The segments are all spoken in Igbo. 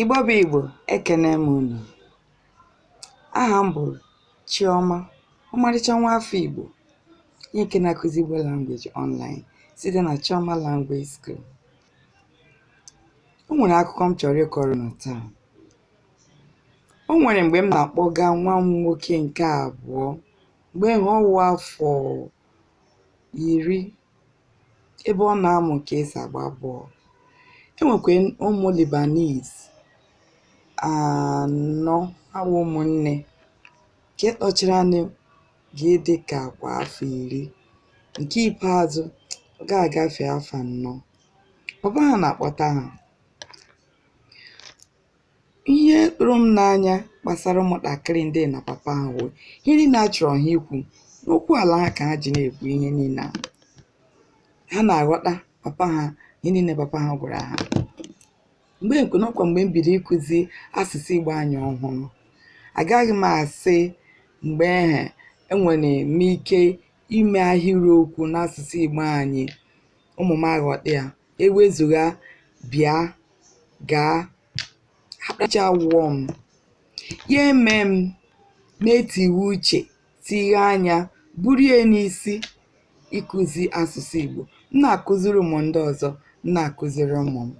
Igbo bụ Igbo ekene m unu aha m bụ Chioma ọmarịcha nwa afọ Igbo onye nke na-akụzi Igbo language online site na Chioma Language School o nwere akụkọ m chọrọ ịkọrọ unu taa o nwere mgbe m na-akpọga nwa m nwoke nke abụọ mgbe ahụ ọ wụ afọ iri ebe ọ na-amụ ka esi agba bọọlụ e nwekwa ụmụ Lebanese anọ ha wụ ụmụnne nke tọchara ha nụ ga-adị ka kwa afọ iri nke ikpeazụ ọ ga-agafe afọ anọ papa ha na-akpọta ha ihe tụrụ m n'anya gbasara ụmụntakịrị ndị na papa ha wụ ihe niile a chọrọ ha ikwu n'okwu ala ha ka ha ji na-ekwu ihe niile a ha na-aghọta papa ha ihe niile papa ha gwara ha mgbe nkwe n'ọkwa mgbe m bido ịkụzi asụsụ igbo anyị ọhụrụ agaghị m asị mgbe ahụ enwere m ike ime ahịrịokwu n'asụsụ igbo anyị ụmụ m aghọta ya ewezuga bịa gaa akpacha wụọ m ya emee m na-etiwe uche tighe anya buru ya n'isi ịkụzi asụsụ Igbo m na-akụziri ụmụ ndị ọzọ m na-akụziri ụmụ m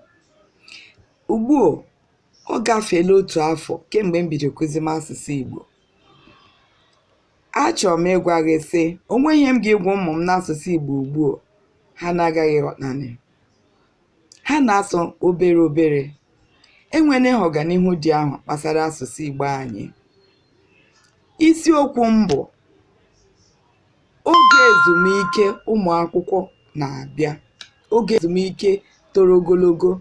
ugbu a ọ gafeela otu afọ kemgbe m bido kụzi m asụsụ Igbo Achọrọ m ịgwa gị sị, o nweghị ihe m ga-egwa ụmụ m n'asụsụ Igbo ugbu a, ha na-agaghị ịghọtanị. Ha na-asụ obere obere. Enweela ọganihu dị ahụ gbasara asụsụ Igbo anyị. Isiokwu m bụ oge ezumike ụmụ akwụkwọ na-abịa, oge ezumike toro ogologo.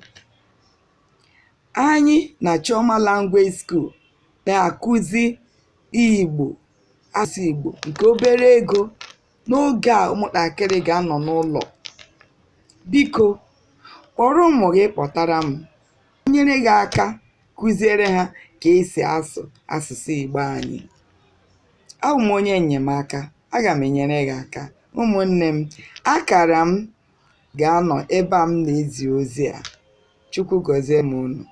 Anyị na Chioma Language School na-akụzi Igbo, asụsụ Igbo nke obere ego n'oge a ụmụntakịrị ga-anọ n'ụlọ. Biko, kpọrọ ụmụ gị kpọtara m, nyere gị aka kụziere ha ka esi asụ asụsụ Igbo anyị. Abụ m onye enyemaka, aga m enyere gị aka. Ụmụnne m, akara m ga-anọ ebe a m na-ezi ozi a chukwu gọzie m unu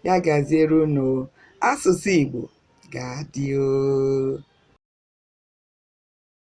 ya gaziere unu asụsụ igbo ga-adị